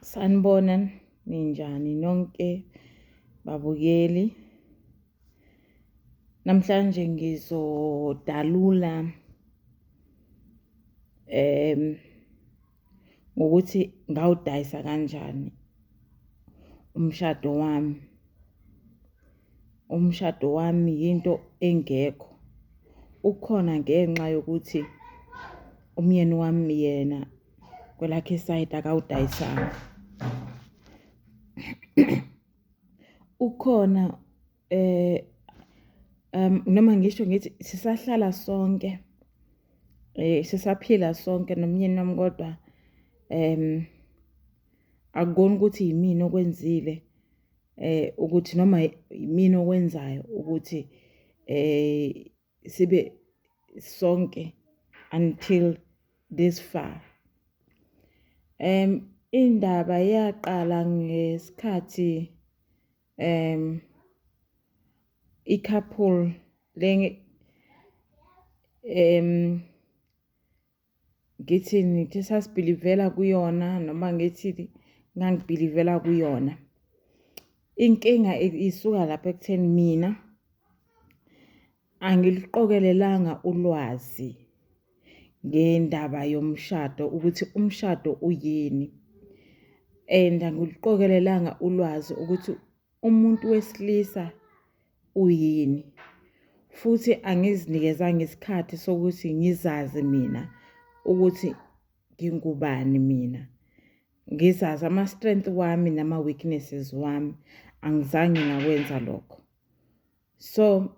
Sanibona ninjani nonke babukeli. Namhlanje ngizodalula em ngokuthi ngawudayisa kanjani umshado wami. umshado wami yinto engekho. Ukhona ngenxa yokuthi umyeni wami yena kwelakhe isayidi akawudayisanga. Ukhona noma ngisho ngithi sisahlala sonke, sisaphila sonke nomyeni wami kodwa akukona ukuthi yimina okwenzile eh ukuthi noma yimini okwenzayo ukuthi eh sibe sonke until this far em indaba yaqala ngesikhathi em i-couple le em ngithi nithe sasibhilivela kuyona noma ngithi ngangibhilivela kuyona inkinga isuka lapha ekutheni mina angiliqokelelanga ulwazi ngendaba yomshado ukuthi umshado uyini and angiliqokelelanga ulwazi ukuthi umuntu wesilisa uyini futhi angizinikezanga isikhathi sokuthi ngizazi mina ukuthi ngingubani mina ngizazi ama-strength wami nama-weaknesses wami angizange ngakwenza lokho so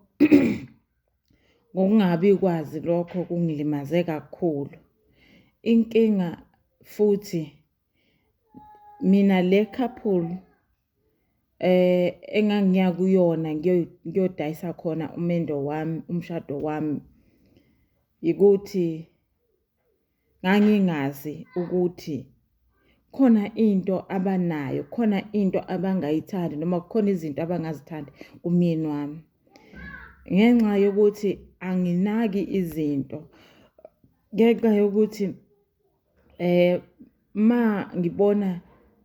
ngokungabi kwazi lokho kungilimaze kakhulu inkinga futhi mina le couple engangiya kuyona ngiyodayisa khona umendo wami, umshado wami, yikuthi ngangingazi ukuthi khona into abanayo, khona into abangayithandi noma kukhona izinto abangazithandi kumyeni wami. Ngenxa yokuthi anginaki izinto, ngenxa yokuthi. Eh ma ngibona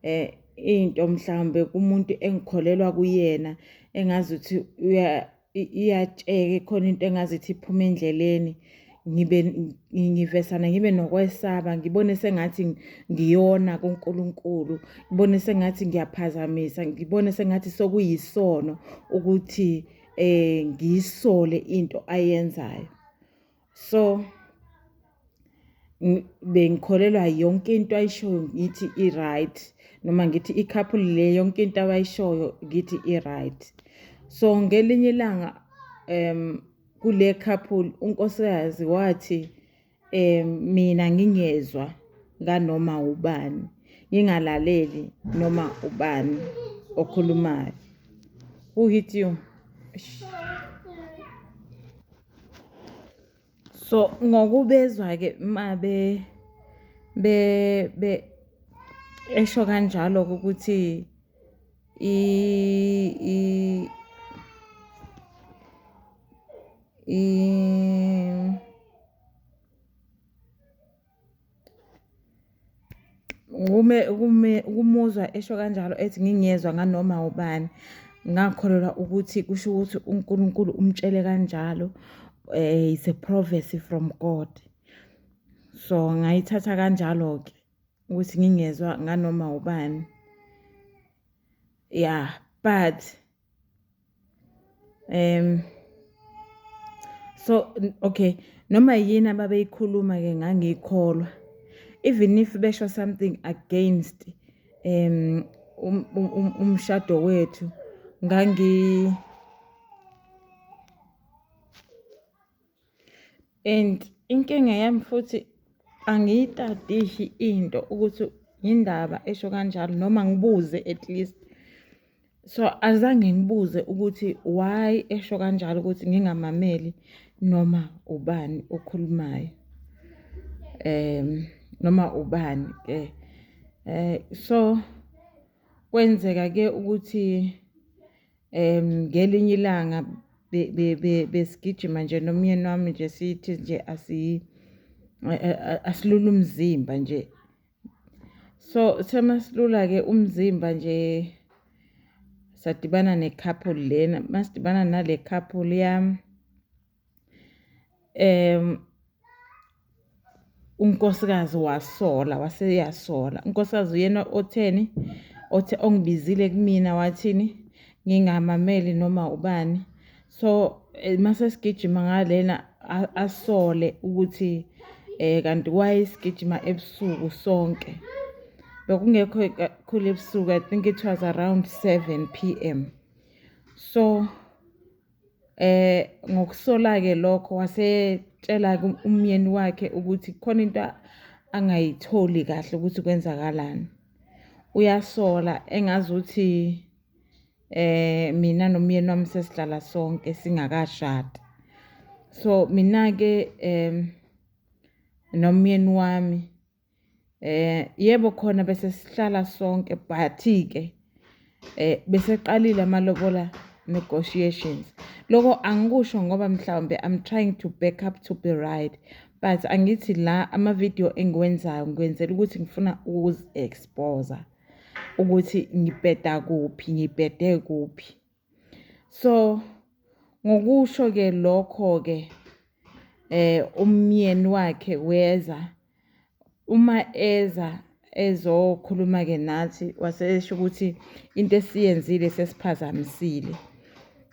eh into mhlawumbe kumuntu engikholelwa kuyena engazi ukuthi uya iyatsheke khona into engazi ukuthi iphuma endleleni ngibe ngivesana ngibe nokwesaba ngibone sengathi ngiyona kuNkulunkulu ngibone sengathi ngiyaphazamisa ngibone sengathi sokuyisono ukuthi eh ngisole into ayenzayo so bengikholelwa yonke into ayishoyo ngithi i-right noma ngithi i-couple le yonke into abayishoyo ngithi i-right so ngelinye ilanga um kule couple unkosikazi wathi um mina ngingezwa nganoma ubani ngingalaleli noma ubani okhulumayo who hit you So ngokubezwa-ke uma esho kanjalo-ke ukuthi Ngime kume ukumuzwa esho kanjalo ethi ngingezwa nganoma ubani, ngakholelwa ukuthi kusho ukuthi uNkulunkulu umtshele kanjalo is a prophecy from God. So, ngayithatha kanjalo-ke ukuthi ngingezwa nganoma ubani. Ya, but Um so okay noma yini ababeyikhuluma ke ngangiyikholwa even if besho something against um umshado wethu ngangi and inkinga yami futhi angiyitadishi into ukuthi yindaba esho kanjalo noma ngibuze at least so azange ngibuze ukuthi why esho kanjalo ukuthi ngingamameli noma ubani okhulumayo um noma ubani ke um so kwenzeka ke ukuthi um ngelinye ilanga besigijima nje nomyeni wami nje sithi nje asilula umzimba nje so semasilula-ke umzimba nje sadibana ne-couple lena masidibana nale couple yami Unkosikazi wasola wase eyasola, unkosikazi uyena otheni, othe ongibizile kumina wathini, ngingamameli noma ubani. So uma sesigijima ngalena asole ukuthi kanti why sigijima ebusuku sonke. Bekungekho kakhulu ebusuku, I think it was around seven P_M. So. Eh, ngokusola-ke lokho wasetshela umyeni wakhe ukuthi khona into angayitholi kahle ukuthi kwenzakalani. Uyasola engazuthi eh mina nomyeni wami sesihlala sonke singakashadi. So mina-ke nomyeni wami Eh yebo khona bese sihlala sonke but ke eh beseqalile amalobola negotiations loko angikusho ngoba mhlawumbe i'm trying to back up to be right but angithi la ama-video engiwenzayo ngikwenzela ukuthi ngifuna ukuzi-exposa ukuthi ngibheda kuphi ngibhede kuphi So ngokusho-ke lokho-ke umyeni wakhe weza, uma eza ezokhuluma-ke nathi wasesho ukuthi into esiyenzile sesiphazamisile.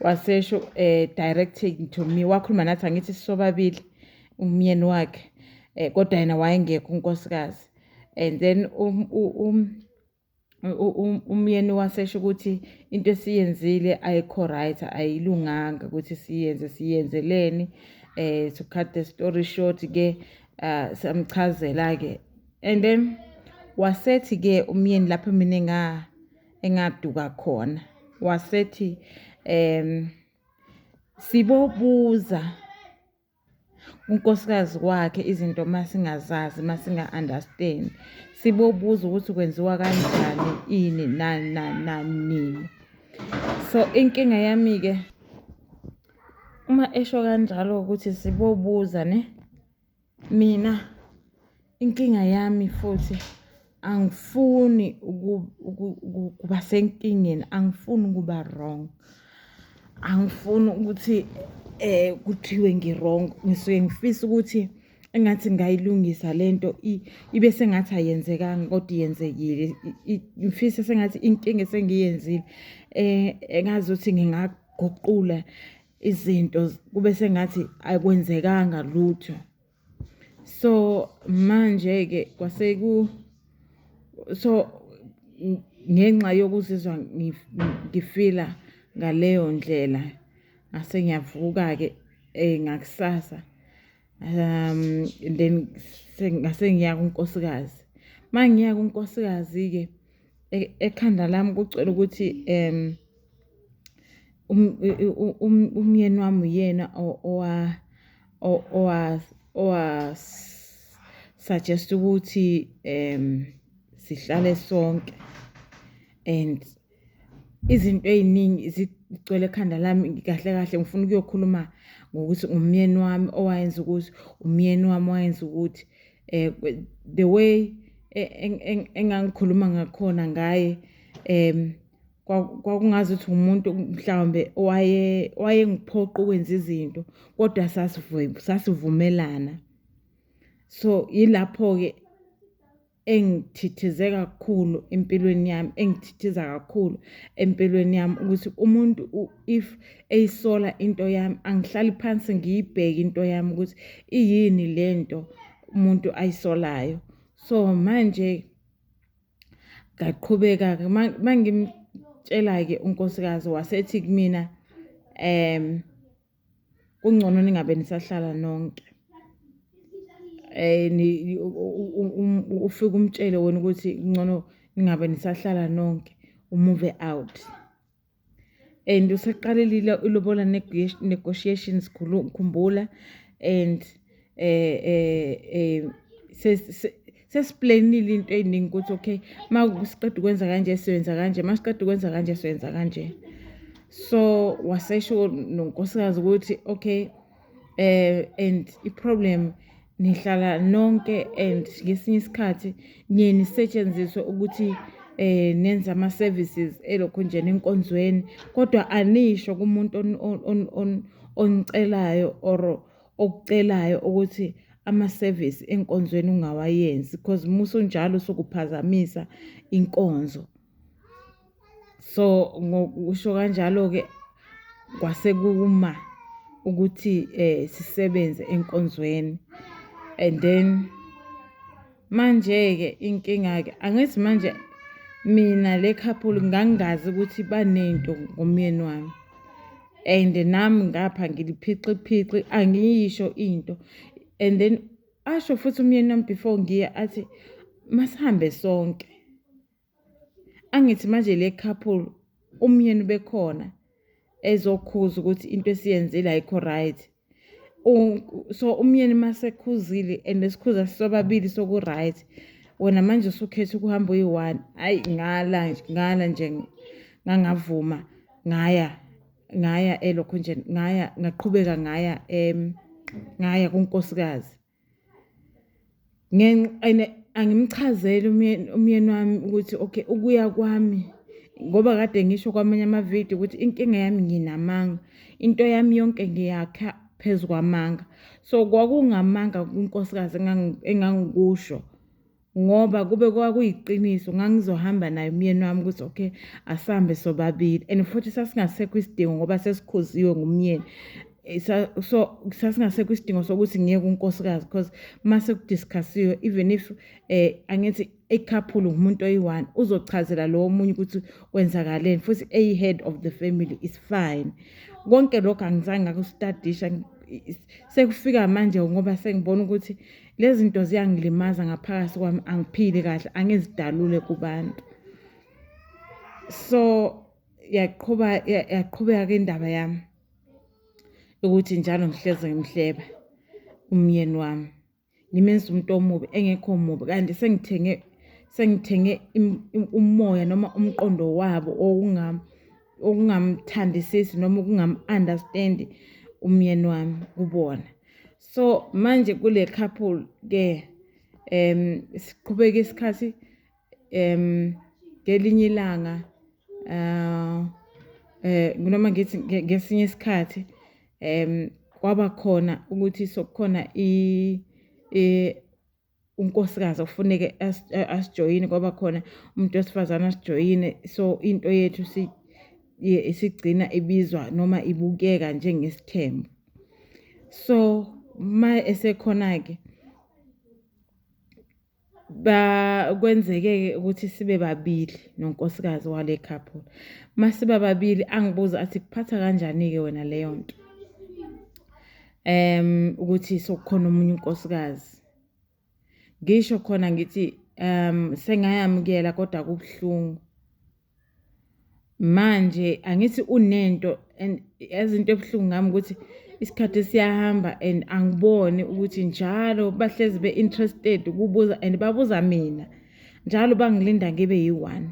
Wasesho directing to me, wakhuluma nathi angithi sisobabili umyeni wakhe kodwa yena wayengekho unkosikazi and then . umyeni wasesho ukuthi into esiyenzile ayikho right ayilunganga ukuthi siyenze siyenzeleni eh to cut the story short ke ah, samchazela ke and then wasethi ke umyeni lapho mina nga engaduka khona wasethi em sibobuza unkosikazi wakhe izinto uma singazazi uma singa-understand sibobuza ukuthi kwenziwa kanjani ini nani nani nani nini so inkinga yami-ke uma esho kanjalo ukuthi sibobuza ne mina Inkinga yami futhi angifuni ukuba senkingeni angifuni ukuba wrong angifuni ukuthi eh kuthiwe ngirong ngisuke ngifisa ukuthi engathi ngayilungisa lento ibe sengathi ayenzekanga kodwa yenzekile ngifisa sengathi inkinga esengiyenzile eh engazi ukuthi ngingaguqula izinto kube sengathi akwenzekanga lutho. so manje ke kwase ku so ngenxa yokuzizwa ngifila ngaleyo ndlela ngase ngiyavuka ke eh ngakusasa um then ngase ngiya kunkosikazi mangiya kunkosikazi ke e-, ekhanda lami kucela ukuthi um um, um umyeni wami uyena owa owasuggest ukuthi um sihlale sonke and izinto eziningi zigcwele ekhanda lami kahle kahle ngifuna ukuyokhuluma ngokuthi umyeni wami owayenza ukuthi umyeni wami wayenza ukuthi eh the way e, engangikhuluma ngakhona ngaye um kwakungazi ukuthi umuntu mhlawumbe owaye wayengiphoqa ukwenza izinto kodwa sasivumelana so yilapho-ke engithithize kakhulu empilweni yami engithithiza kakhulu empilweni yami ukuthi umuntu if eyisola into yami angihlali phansi ngiyibheke into yami ukuthi iyini lento umuntu ayisolayo so manje Ngaqhubeka-ke uma ngimtshela-ke unkosikazi wasethi kumina um kungcono ningabe nisahlala nonke um ufike umtshele wena ukuthi kungcono ningabe nisahlala nonke umuve out. and useqalelile ilobola negotiations khumbula and eh eh eh sesiplanile into eyiningi ukuthi okay uma siqeda ukwenza kanje siwenza kanje uma siqeda ukwenza kanje siwenza kanje so wasesho nonkosikazi ukuthi okay eh and iproblem nihlala nonke and ngesinye isikhathi niye nisetshenziswe ukuthi eh nenza ama services elokho nje nenkonzweni kodwa anisho kumuntu on onicelayo or okucelayo ukuthi ama service enkonzweni ungawayenzi because musu njalo sokuphazamisa inkonzo so ngokusho kanjalo-ke kwase kuma ukuthi eh sisebenze enkonzweni and then manje-ke inkinga-ke angithi manje mina le couple ngangingazi ukuthi banento ngomyeni wami and nami ngapha ngiliphixiphixi angiyisho into and then asho futhi umyeni wami before ngiya athi masihambe sonke angithi manje le couple umyeni bekhona ezokhuza ukuthi into esiyenzile ayikho right so umyeni masekhuzile and esikhuza sobabili soku-right wena manje usukhetha ukuhamba uyi-one ayi ngala ngala nje ngangavuma ngaya ngaya elokho nje ngaya ngaqhubeka ngaya um ngaya kunkosikazi And angimchazeli umyeni umyeni wami ukuthi okay ukuya kwami ngoba kade ngisho kwamanye amavidiyo ukuthi inkinga yami nginamanga into yami yonke ngiyakha phezu kwamanga so kwakungamanga kunkosikazi engangikusho. ngoba kube kwakuyiqiniso ngangizohamba naye umyeni wami ukuthi okay asihambe sobabili and futhi sasingasekho isidingo ngoba sesikhuziwe ngumyeni eh, so sasingasekho isidingo sokuthi ngiye kunkosikazi because uma sekudiscussiwe even if um eh, angithi ekhaphulu ngumuntu oyi-one uzochazela lowo omunye ukuthi kwenzakaleni futhi eyi-head of the family is fine konke lokho angizange ngakusitadisha sekufika manje ngoba sengibona ukuthi Lezi zinto ziyangilimaza ngaphakathi kwami angiphili kahle angizidalule kubantu. So yaqhuba yaqhubeka ke indaba yami ukuthi njalo ngihleze ngimhleba umyeni wami. Ngimenza umuntu omubi engekho mubi kanti sengithenge sengithenge umoya noma umqondo wabo owungami okungamthandisisi noma ukungamu-understandi umyeni wami kubona so manje kule couple ke um siqhubeka isikhathi um ngelinye ilanga um eh noma ngithi ngesinye isikhathi um kwaba khona ukuthi sokukhona i unkosikazi okufuneke asijoyine kwaba khona umuntu wesifazane asijoyine so into yethu isigcina ibizwa noma ibukeka njengesithembu so ma esekhona-ke kwenzeke-ke ukuthi sibe babili nonkosikazi wale couple uma siba babili angibuze athi kuphatha kanjani-ke wena leyo nto um ukuthi sokukhona omunye unkosikazi ngisho khona ngithi um sengayamukela kodwa kubuhlungu manje angithi unento and ezinto ebuhlungu ngami ukuthi isikhathi siyahamba and angiboni ukuthi njalo bahlezi be-interested ukubuza and babuza mina njalo bangilinda ngibe yi-one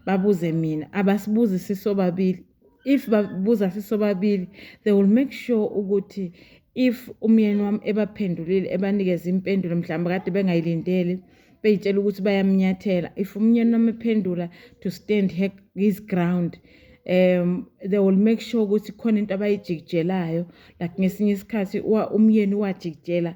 babuze mina abasibuzi sisobabili if babuza sisobabili they will make sure ukuthi if umyeni wami ebaphendulile ebanikeza impendulo mhlawumbe kade bengayilindele beyitshela ukuthi bayamnyathela if umyeni wami ephendula to stand her, his ground um they will make sure ukuthi khona into abayijikijelayo like ngesinye isikhathi umyeni wajikijela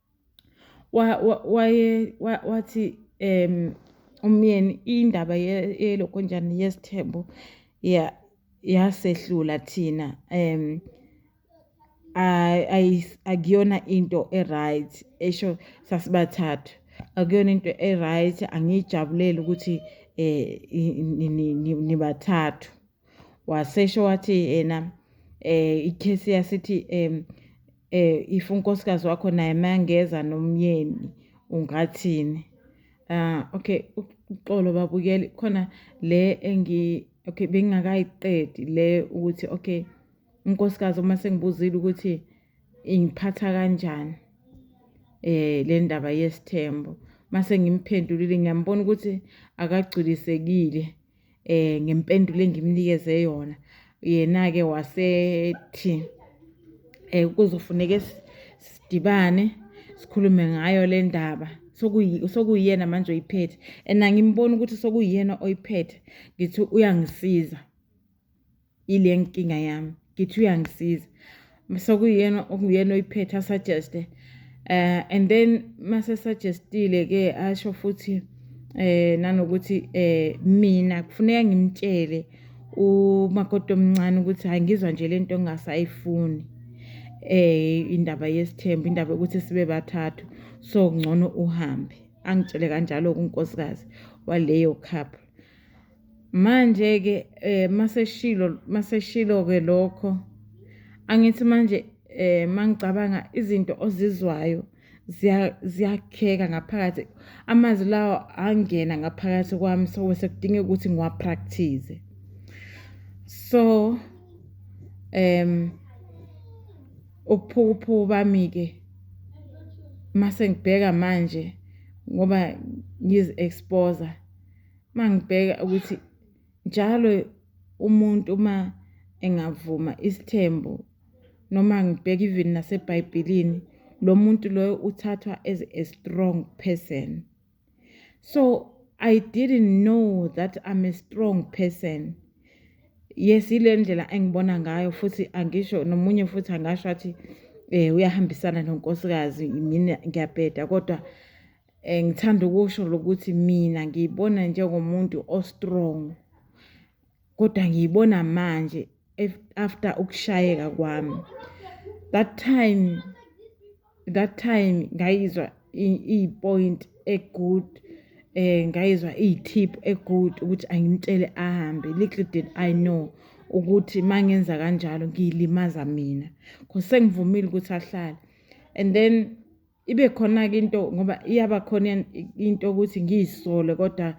wathi umyeni indaba yelokonjani yesithembu yasehlula thina um akuyona into e-right esho sasibathathu akuyona into e-right angiyijabulele ukuthi um nibathathu. wasesho wathi yena eh ikhesi yasithi em eh if unkosikazi wakho naye mangeza nomyeni ungathini ah okay uxolo babukeli khona le engi okay bengingakayiqedi le ukuthi okay unkosikazi uma sengibuzile ukuthi ingiphatha kanjani eh le ndaba yesithembo mase ngimphendulile ngiyambona ukuthi akagculisekile eh ngempendulo engimnikeze yona yena ke wasethi eh kuzofuneka sidibane sikhulume ngayo le ndaba sokuyiyena manje oyiphethe and angimboni ukuthi sokuyiyena oyiphethe ngithi uyangisiza ile nkinga yami ngithi uyangisiza sekuyena okuyena oyiphethe asuggeste eh and then mase suggestile ke asho futhi eh nanokuthi eh mina kufuneka ngimtshele umakoti omncane ukuthi hayi ngizwa nje lento engasayifuni eh indaba yesithembu indaba ukuthi sibe bathathu so ngcono uhambe angitshele kanjalo kunkosikazi waleyo cup Manje-ke um maseshilo maseshilo-ke lokho angithi manje eh mangicabanga izinto ozizwayo ziyakheka ngaphakathi amazwi lawo angena ngaphakathi kwami so sekudinga ukuthi ngiwapractice so um ubuphukuphuku bami-ke mase ngibheka manje ngoba ngizi-exposer uma ngibheka ukuthi njalo umuntu uma engavuma isithembu noma ngibheka even naseBhayibhelini lo muntu loyo uthathwa as a strong person so i didn't know that i'm a strong person yes ile ndlela engibona ngayo futhi angisho nomunye futhi angasho athi eh uyahambisana nonkosikazi mina ngiyabheda kodwa um ngithanda ukusho lokuthi mina ngiyibona njengomuntu o-strong kodwa ngiyibona manje after ukushayeka kwami that time that time ngayizwa iyipoint egood eh ngayizwa iyithip egood ukuthi angimtshele ahambe little did i know ukuthi mangenza kanjalo ngiyilimaza mina cause sengivumile ukuthi ahlale and then ibe khona-ke into ngoba iyaba khona into ukuthi ngiyisole kodwa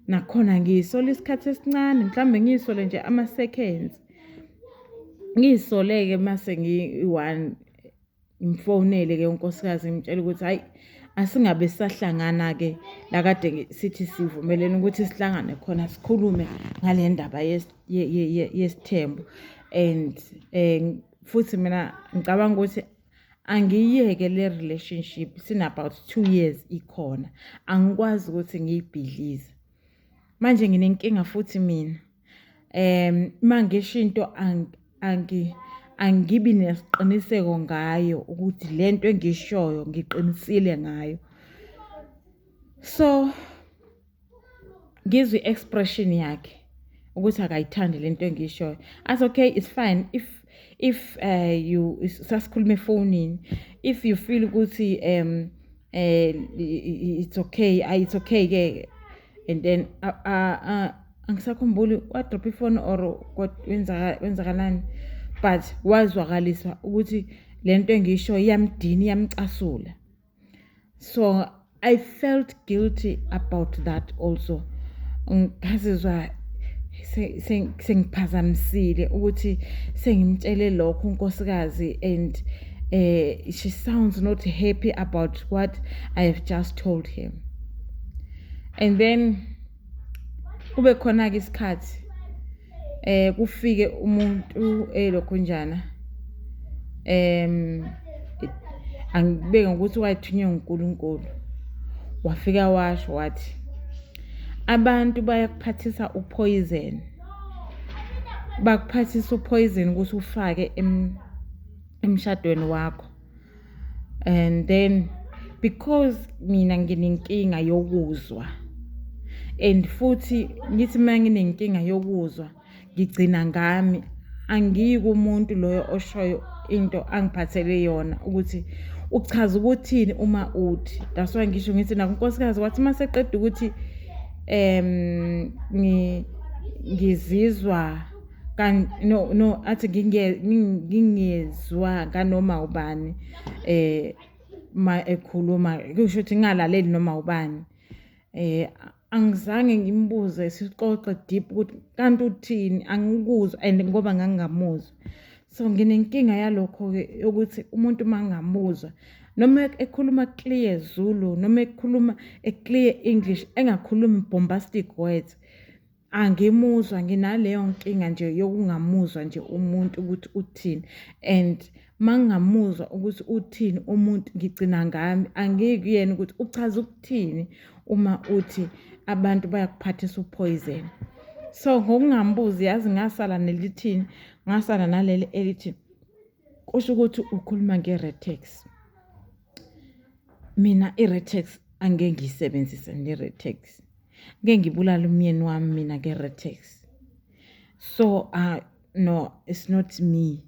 nakhona ngiyisole isikhathi esincane mhlawumbe ngiyisole nje ama-seconds ngiyisole-ke mase ngiyi-one ngimfonele-ke unkosikazi ngimtshela ukuthi hhayi asingabe sahlangana-ke la kade sithi sivumelene ukuthi sihlangane khona sikhulume ngale ndaba yesithembu and um futhi mina ngicabanga ukuthi angiyeke le relationship sinabout two years ikhona angikwazi ukuthi ngiyibhidlize manje nginenkinga futhi mina um uma ngisho into angibi nesiqiniseko ngayo ukuthi le nto engishoyo ngiqinisile ngayo so ngizwe i-expression yakhe ukuthi akayithandi le nto engiyishoyo as okay it's fine if if uh, you sasikhuluma efonini if you feel ukuthi um uh, it's okay ah, it's okay ke and then uh, uh, uh, angisakhumbuli wadrop ifoni or wenzakalani but wazwakaliswa ukuthi le nto engiyisho iyamdina iyamcasula so i felt guilty about that also ngazizwa sengiphazamisile ukuthi sengimtshele lokho unkosikazi and uh, she sounds not happy about what i have just told him and then kube khona-ke isikhathi eh kufike umuntu elokhunjana em angibeke ngokuthi wayethunywe nguNkulunkulu wafika washo wathi abantu bayakuphathisa uphoyizin bakuphathisa uphoyizin ukuthi ufake emshadweni wakho and then because mina nginenkinga yokuzwa and futhi ngithi uma nginenkinga yokuzwa ngigcina ngami angiyi kumuntu loyo oshoyo into angiphathele yona ukuthi uchaza ukuthini uma uthi that's why ngisho ngithi nakunkosikazi wathi uma seqeda ukuthi um ngizizwa no no athi ngingezwa kanoma ubani eh ma ekhuluma kusho ukuthi ngingalaleli noma ubani eh angizange ngimbuze sixoxe deep ukuthi kanti uthini angikuzwa and ngoba ngangingamuzwa so nginenkinga yalokho ke ukuthi umuntu mangamuzwa noma ekhuluma clear Zulu noma ekhuluma a clear English engakhulumi bombastic words angimuzwa nginaleyo nkinga nje yokungamuzwa nje umuntu ukuthi uthini and mangingamuzwa ukuthi uthini umuntu ngigcina ngami angikuyena ukuthi uchaza ukuthini uma uthi abantu bayakuphathisa uphoyizeni so ngokungambuzi yazi ngasala nelithini ngasala naleli elithi kusho ukuthi ukhuluma nge-retex mina i-retex angeke ngiyisebenzise ne-retex ngeke ngibulale umyeni wami mina nge-retex so uh, no it's not me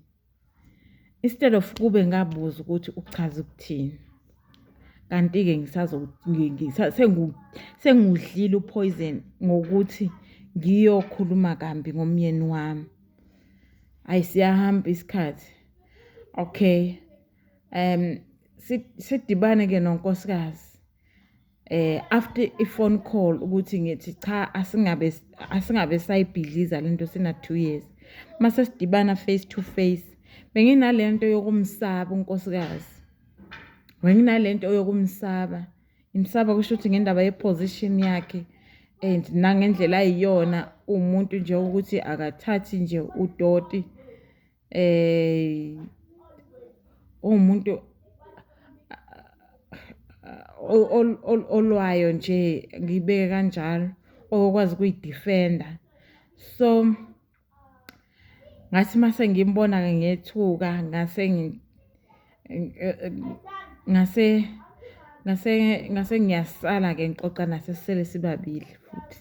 instead of kube ngabuza ukuthi uchaza ukuthini kanti-ke sengudlile uphoyizeni ngokuthi ngiyokhuluma kambi ngomyeni wami ayi siyahamba isikhathi okay um sidibane ke nonkosikazi eh after i phone call ukuthi ngithi cha asingabe asingabe sayibhidliza lento sina 2 years mase sidibana face to face benginalento yokumsaba unkosikazi benginalento yokumsaba ngimsaba kusho ukuthi ngendaba ye position yakhe and nangendlela ayiyona umuntu nje ukuthi akathathi nje udoti eh umuntu olwayo nje ngibeke kanjalo okwazi kuyidefenda so ngathi mase ngimbona ke ngethuka ngase ngase ngase ngase ngiyasala ke ngixoxa nasesisele sibabili futhi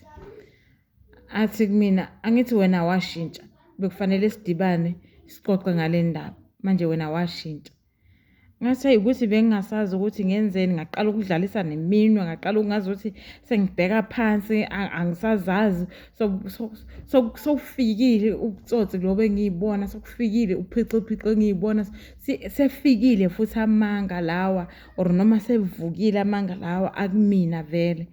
athi kumina angithi wena washintsha bekufanele sidibane sixoxe ngale ndaba manje wena washintsha ngathi hayi ukuthi bengingasazi ukuthi ngenzeni ngaqala ukudlalisa neminwe ngaqala ukungazi ukuthi sengibheka phansi angisazazi sokufikile ubutsotsi lobo engiyibona sokufikile uphixiphixo engiyibona sefikile futhi amanga lawa or noma sevukile amanga lawa akumina vele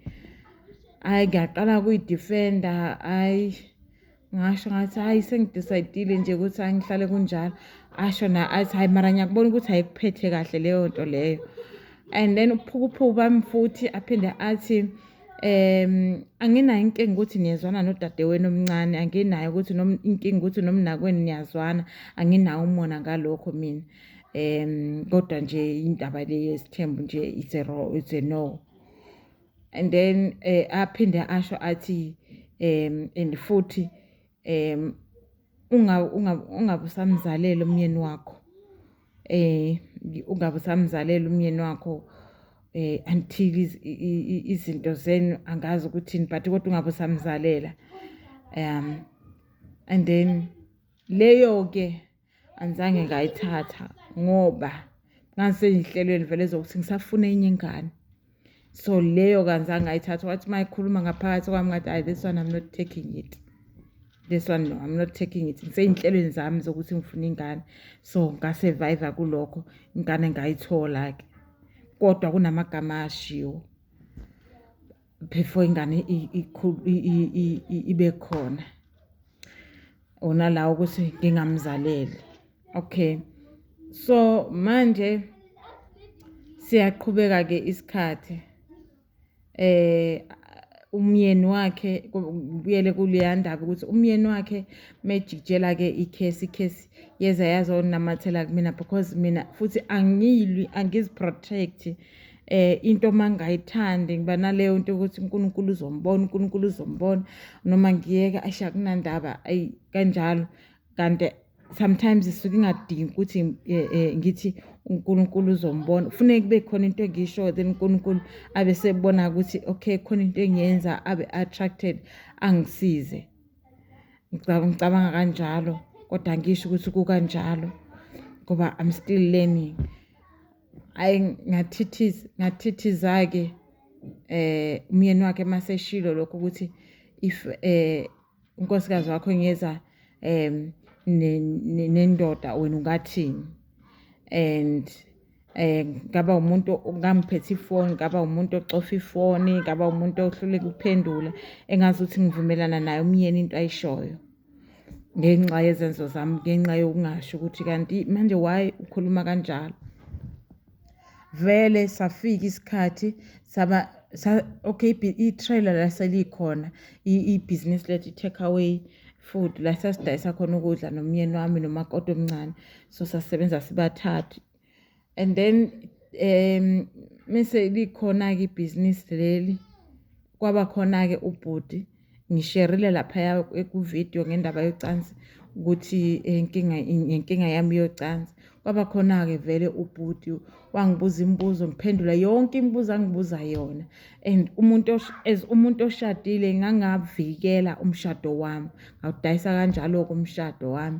hhayi ngiyaqala kuyidifenda hhayi ngasho ngathi hhayi sengidisaydile nje ukuthi hhayi ngihlale kunjalo asho na athi hhayi mara ngiyakubona ukuthi ayikuphethe kahle leyo nto leyo and then uphukuphuku bami futhi aphinde athi um anginayo inkinga ukuthi niyezwana nodadewenu omncane anginayo ukuthi inkinga ukuthi nomnakwenu niyazwana anginawo umona ngalokho mina um kodwa nje indaba le yesithembu nje it's a no and then eh, aphinde asho athi um and futhi um ungabusamzalela umyeni wakho eh ungabusamzalela umyeni wakho eh until izinto zenu angazi ukuthi but kodwa ungabusamzalela um and then leyo ke angizange ngayithatha ngoba ngangiseyihlelweni vele zokuthi ngisafuna enye ingane so leyo kanzange ngayithatha wathi uma ikhuluma ngaphakathi kwami ngathi ayi this one i'm not taking it this one no i'm not taking it ngiseyinhlelweni zami zokuthi ngifuna ingane so ngasurvive kulokho ingane ngayithola-ke kodwa kunamagama ashiwo before ingane ibe khona ona la ukuthi ngingamzaleli okay so manje siyaqhubeka ke isikhathi eh umyeni wakhe kubuyele kuleya ndaba ukuthi umyeni wakhe mejikjela ke ikhesi ikhesi yeza yazonamathela kumina because mina futhi angiyilwi angiziprotect eh into mangayithandi ngiba naleyo nto ukuthi uNkulunkulu uzombona uNkulunkulu uzombona noma ngiyeke asha kunandaba ayi kanjalo kanti sometimes isuke ingadingi ukuthi eh, eh, ngithi uNkulunkulu uzombona kufuneka kube khona into engisho then uNkulunkulu abe sebona ukuthi okay khona into engiyenza abe attracted angisize ngicabanga kanjalo kodwa ngisho ukuthi kukanjalo ngoba i'm still learning hayi ngathithiza ngathithiza-ke eh umyeni wakhe maseshilo lokho ukuthi if eh unkosikazi wakho ngeza em nendoda wena ungathini and eh ngaba umuntu ongamphethe ifoni ngaba umuntu ocofa ifoni ngaba umuntu ohluleka ukuphendula engazi ukuthi ngivumelana naye umyeni into ayishoyo ngenxa yezenzo zami ngenxa yokungasho ukuthi kanti manje why ukhuluma kanjalo vele safika isikhathi saba sa okay i-trailer laselikhona ibhizinisi lethu i-take away food la sasidayisa khona ukudla nomyeni wami nomakoti omncane so sasebenza sibathathu and then um mese likhona-ke ibhizinisi leli kwaba khona-ke ubhuti ngisherile laphaya kuvidiyo ngendaba yocansi ukuthi inkinga inkinga yami yocansi kwaba khona-ke vele ubhuti wangibuza imibuzo ngiphendula yonke imibuzo angibuza yona and umuntu as umuntu oshadile ngangavikela umshado wami ngawudayisa kanjalo-ke umshado wami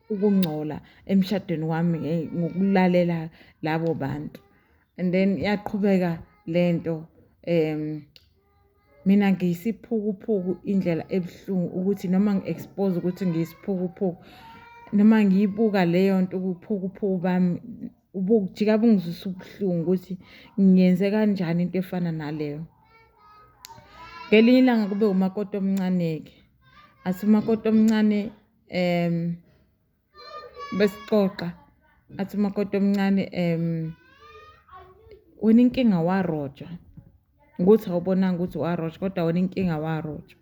ukungcola emshadweni wami eh, ngokulalela labo bantu and then yaqhubeka lento um mina ngiyisiphukuphuku indlela ebuhlungu ukuthi noma ngi-expose ukuthi ngiyisiphukuphuku noma ngiyibuka leyo nto ubuphukuphuku bami ubujika bungizwisa ubuhlungu ukuthi ngiyenze kanjani into efana naleyo ngelinye ilanga kube umakoti omncane-ke athi umakoti omncane um besixoxa athi umakoti omncane um wena inkinga warojwa ukuthi awubonanga ukuthi warojwa kodwa wena inkinga warojwa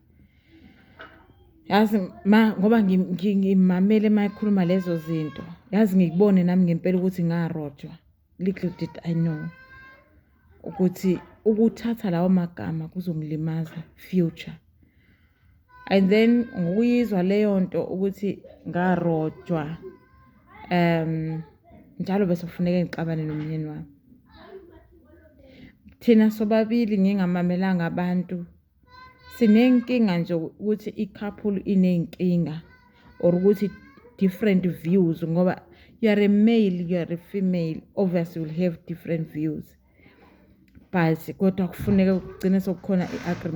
yazi ma ngoba ngimamele uma ekhuluma lezo zinto yazi ngikubone nami ngempela ukuthi ngarojwa little did i know ukuthi ukuthatha lawo magama kuzongilimaza future and then ngokuyizwa leyo nto ukuthi ngarojwa um njalo bese kufuneka ngixabane nomyeni wami thina sobabili ngingamamelanga abantu sinenkinga nje ukuthi i-couple iney'nkinga or ukuthi different views ngoba you are a male you are a female obviously will have different views but kodwa kufuneka kugcine sokukhona i-agreement